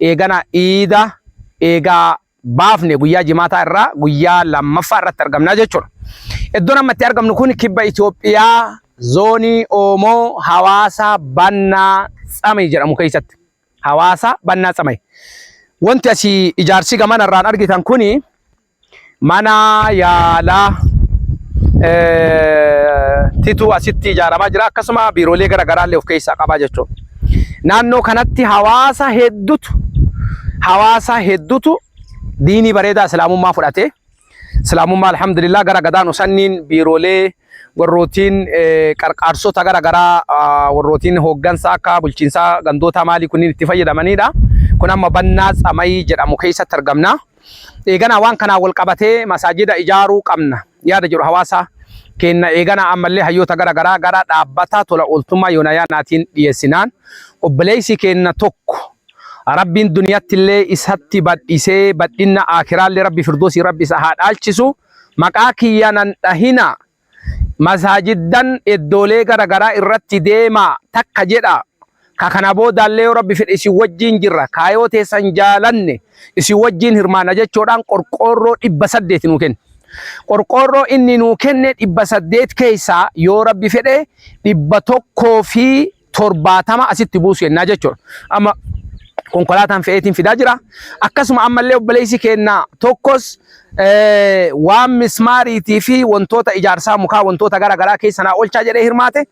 eegana iida eegaa baafne guyyaa jimaataa irraa guyyaa lammaffaa irratti argamnaa jechuudha. Iddoon amma itti argamnu kun kibba Itoophiyaa zoonii Oomoo hawaasaa Bannaa Tsamay jedhamu keessatti. Hawaasaa Bannaa Tsamay. Wanti asii ijaarsi gamana irraan argitan kuni Mana yaalaa titu asitti ijaaramaa jira. Akkasuma biiroolee gara garaa illee of keessaa qabaa jechuudha. Naannoo kanatti hawaasa hedduutu hawaasa hedduutu diinii bareedaa islaamummaa fudhatee islaamummaa alhamdulillah gara gadaan usanniin biiroolee warrootiin qarqaarsota gara garaa warrootiin hooggansa akka bulchiinsaa gandootaa maalii kunniin itti fayyadamanidha. Kun amma bannaa tsamayii jedhamu keessatti argamna. Eeganaa waan kanaan wal qabatee masaajida ijaaruu qabna yaada jedhu hawaasa keenna eeganaa ammallee hayyoota gara garaa gara dhaabbata tola ooltummaa Yoonayaanaatiin dhiyeessinaan obboleessi keenna tokko Rabbiin duniyattillee isatti badhisee badhinna aakiraallee Rabbi Firdoosii Rabbi isa haa dhaalchisu maqaa kiyya nan dhahinaa Masaajiddan iddoolee gara garaa irratti deemaa takka jedhaa. Ka kana boodaallee yoo Rabbi fedhe isin wajjiin jirra. Kaa yoo teessan jaalanne isin wajjiin hirmaanna jechoodhaan qorqoorroo 800 nuu kenne. Qorqoorroo inni nuu kenne 800 keessaa yoo Rabbi fedhe 100 fi torbaatama asitti buusu jennaa jechuudha. Amma konkolaataan fe'eetiin fidaa jira. Akkasuma ammallee obboleessi keenna tokkos waan mismaariitii fi wantoota ijaarsaa mukaa wantoota gara garaa keessa naa oolchaa jedhee hirmaate.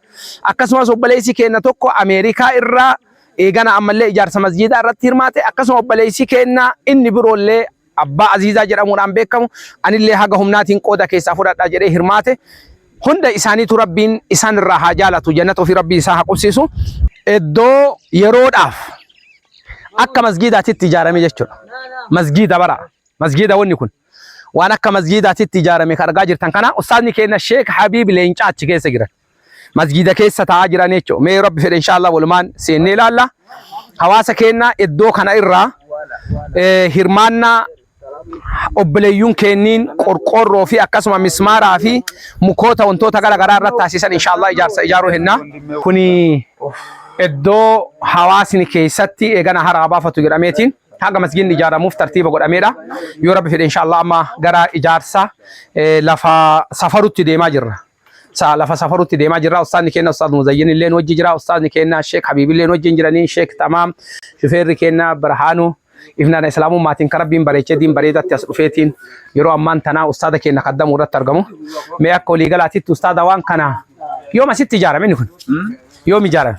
Akkasumas obboleessi keenna tokko Ameerikaa irraa eegana ammallee ijaarsa masjiidaa irratti hirmaate. Akkasuma obboleessi keenna inni biroollee Abbaa Aziizaa jedhamuudhaan beekamu, anillee haga humnaatiin qooda keessaa fudhadha jedhee hirmaate. Hunda isaaniitu Rabbiin isaan irraa haa jaalatu, jannata ofii Rabbiin isaan haa qubsiisu. Iddoo yeroodhaaf akka masgiidaatitti ijaarame jechuudha. Masgiida bara. Masgiida wanni kun. Waan akka masgiidaatitti ijaarame kan argaa jirtan kana ustaazni keenya Sheek Habiib Leencaa achi keessa jiran. masjiida keessa taa'aa jiran jechuudha. Mee rabbi fedhe inshaallah walumaan seennee ilaalla. Hawaasa keenya iddoo kana irraa hirmaannaa obboleeyyuun kenniin qorqoorroo fi akkasuma mismaaraa fi mukoota wantoota gara garaa irratti taasisan inshaallah ijaarsa ijaaruu hennaa. Kuni iddoo hawaasni keessatti eegana haraa baafatu jedhameetiin hanga masgiinni ijaaramuuf tartiiba godhameedha. Yoo rabbi fedhe inshaallah amma gara ijaarsa lafa safarutti deemaa jirra. Sa lafa safarutti deemaa jirra. Ustaadni keenya Ustaad Muzayyin illee nu wajji jira. Ustaadni keenya Sheek Habiib illee nu wajjin jiranii. Sheek Tamaam, shufeerri keenya Birhaanu, ifnana Islaamummaatiin kan Rabbiin bareechee diin bareedatti as dhufeetiin yeroo ammaan tanaa ustaada keenya kaddamuu irratti argamu. Mee akka waliigalaatitti ustaada waan kana yoom asitti ijaarame inni kun? Yoom ijaarame?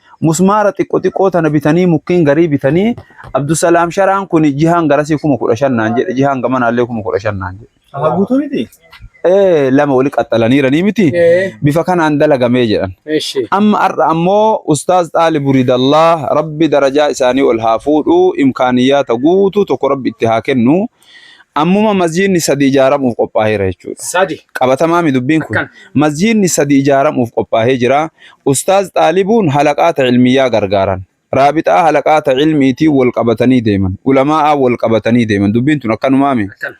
musmaara xiqqo xiqqoo tana bitanii mukkiin garii bitanii Abdusalaam sharaan kun jihaan garasii kuma kudha shan naan jedhe jihaan gamanaallee kuma kudha shan naan jedhe. Aha guutuu miti? Ee lama wali qaxxalaniiranii miti Ee, bifa kanaan dalagamee jedhan. eshi. Amma har'a ammoo Ustaaz Xaalib Buridallaa rabbi darajaa isaanii ol haa fuudhu imkaaniyyaata guutuu tokko rabbi itti haa kennu Ammuma masjiidni sadi ijaaramuuf qophaaheera jechuudha. Sadi. Qabatamaami dubbiin kun. Akkan. Masjiidni sadi ijaaramuuf qophaahee jira. Ustaaz xaalibuun halaqaata ilmiyyaa gargaaran. Raabixaa halaqaata ilmiitiin wal qabatanii deeman. Ulamaa'aan wal qabatanii deeman. Dubbiin tun akkanumaami. Akkan.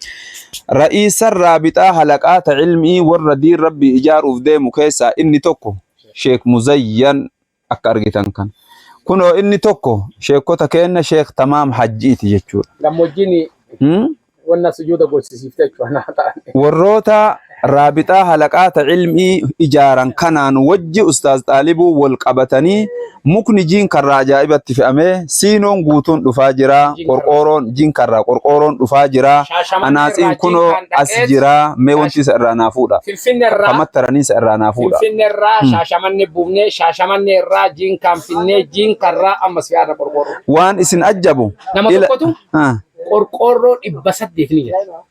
Ra'iisan raabixaa halaqaata ilmii warra diin rabbii ijaaruuf deemu keessaa inni tokko Sheek Muzayyan akka argitan kan kunoo inni tokko sheekota keenna sheek tamaam hajjiiti jechuudha. Gammoojjiin hmm? wanna sujuuda gochisiifte jechuudha ta'an. Warroota raabixaa halaqaata ilmii ijaaran kanaan wajji ustaaz xaalibuu wal qabatanii mukni jiin karraa ajaa'ibatti fe'amee Siinoon guutuun dhufaa jira. Qorqooroon jinka irraa qorqooroon dhufaa jira. Anaaxiin kunoo as jira. Mee wanti isa irraa naa fuudha. Akkamatti taranii isa irraa naa fuudha. Finfinne irraa shaashamanne buufnee shaashamanne irraa jinkaan finnee jinka irraa ammas fi'aadha qorqoorroo. Waan isin ajjabu. Nama tokkotu qorqoorroo dhibba saddeet ni jira.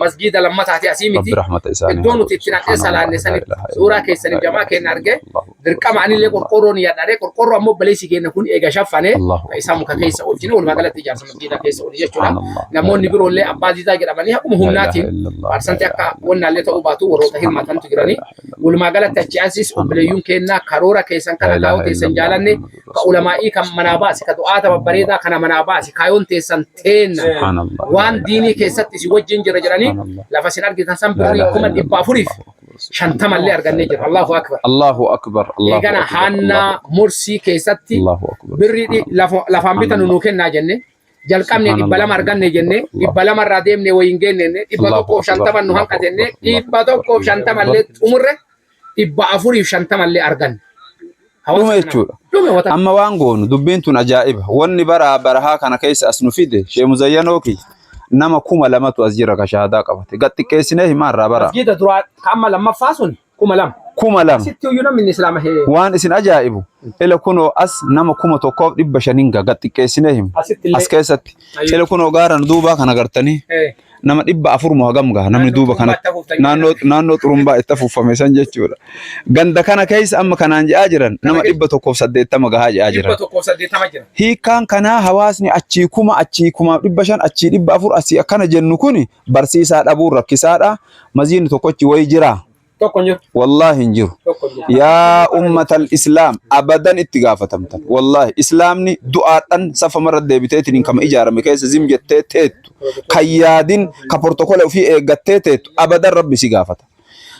masgiida lammataati asii miti iddoo nuti itti naqee salaanne sanitti suuraa keessaniif jamaa keenya arge dirqama anillee qorqoorroo ni yaadhare qorqoorroo ammoo baleessi keenya kun eega shaffane isaa muka keessa oolchine walumaa galatti ijaarsa masgiida keessa ooli jechuudha namoonni biroollee abbaa diidaa jedhamanii haquma humnaatiin parsanti akka wannaallee ta'uu baatu warroota hirmaatantu jiranii walumaa galatti achi ansis obboleeyyuun keenya karoora keessan kana kaayoo keessan jaalanne ka ulamaa'ii kan manaa baasi ka du'aata babbareedaa kana manaa baasi kaayoon teessan teenna Subhanallah. waan diinii keessatti si wajjin jira jedhanii Subhanallah. lafa sin argitan san birrii ilaha kuma dhibba afuriif shantamallee argannee jira allahu akbar Allahu akbar. Allahu eegana akbar. haannaa mursii keessatti Allahu akbar. birrii dhi- lafa- lafaan bitanu nuu kennaa jenne jalqabne dhibba lama arganne jenne dhibba lama irraa deemne wayin geenne jenne dhibba Allahu tokkoof akbar. shantaman nu hanqa jenne Allahu akbar. dhibba tokkoof shantamallee xumurre dhibba afuriif shantama illee arganne. Hawaasa dhume kana- jechuudha. Dhume wata. Amma waan goonu dubbiin tun ajaa'iba. Wanni bara barahaa kana keessa as nu fide Shee Muzayyanoo kiyya nama kuma lamatu as jira ka shahaadaa qabate. Gad xiqqeessinee himaa irraa bara. Masjiida duraa ka amma lammaffaa sun kuma lama. Kuma lama. Sitti iyyuu namni inni islaama hee. Waan isin ajaa'ibu ila kunoo as nama kuma tokkoof dhibba shaniin ga gad xiqqeessinee himu. Asitti illee. As keessatti. Ayyo. Ila kunoo gaara nu duubaa kana gartanii Eh, nama dhibba afur moo hagam gaha namni duuba kanatti naannoo naannoo xurumbaa itti afuuffame san jechuudha. Ganda kana keessa amma kanaan jedhaa jiran nama dhibba tokkoof saddeettama gahaa jedhaa jiran. Dhibba tokkoof saddeettama jira. Hiikkaan kanaa hawaasni achii kuma achii kumaaf dhibba shan achii dhibba afur asii akkana jennu kun barsiisaa dhabuun rakkisaadha. Maziin tokkochi wayii jiraa. Tokko hin jiru. Wallaahi hin jiru. Tokko hin jiru. Yaa ummatal islaam abadan itti gaafatamtan. Wallaahi islaamni du'aadhan safamarra deebiteetiin kama ijaarame keessa zim jettee teettu. Kan yaadin ka portokola ofii eeggattee teettu abadan rabbi si gaafata.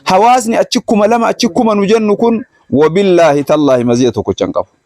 Hawaasni achi kuma lama achi kuma nu jennu kun wabillaahi tallaahi maziya tokkocha hin qabu.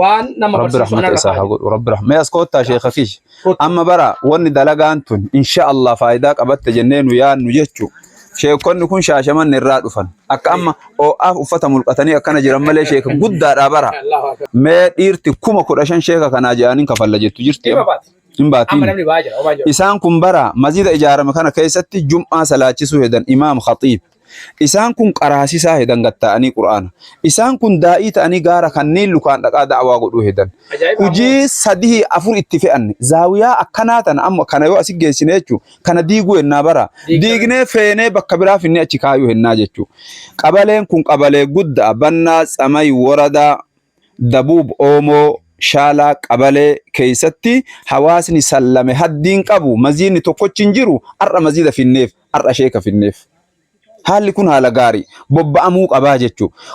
waan nama rabbi barsiisu rahmata anarra isaa haa kaa'e. godhu rabbi rahmata as koottaa sheekha kish Kottu. amma bara wanni dalagaan tun insha Allah faayidaa qabatte jennee nu yaadnu jechu sheekonni kun shaashamanni irraa dhufan akka amma oo'aaf uffata mulqatanii akkana jiran malee sheeka guddaadhaa bara Allahu akbar. mee dhiirti kuma kudha shan sheeka kanaa jedhaniin kafalla jettu jirti Dhimma baati. hin Amma baatiin namni ba'aa jira. Omaa jira. isaan kun bara masjida ijaarame kana keessatti jum'aa salaachisuu hedan imaam khatiib Isaan kun qaraasisaa hedan gad taa'anii Qur'aana. Isaan kun daa'ii ta'anii gaara kanniin lukaan dhaqaa da'awaa godhuu hedan. Hujii sadihii afur itti fe'anne. Zaawiyaa akkanaa tana amma kana yoo asi geessine jechu kana diiguu hennaa bara. Diignee feenee bakka biraa finnee achi kaayuu hennaa jechu. Qabaleen kun qabalee gudda'a. Bannaa, Tsamay, Woradaa, Dabuub, Oomoo, Shaalaa, Qabalee keessatti hawaasni sallame haddiin qabu maziidni tokkochi hin jiru har'a maziida finneef. har'a sheeka fidneef. Haalli kun haala gaarii bobba'amuu qabaa jechuudha.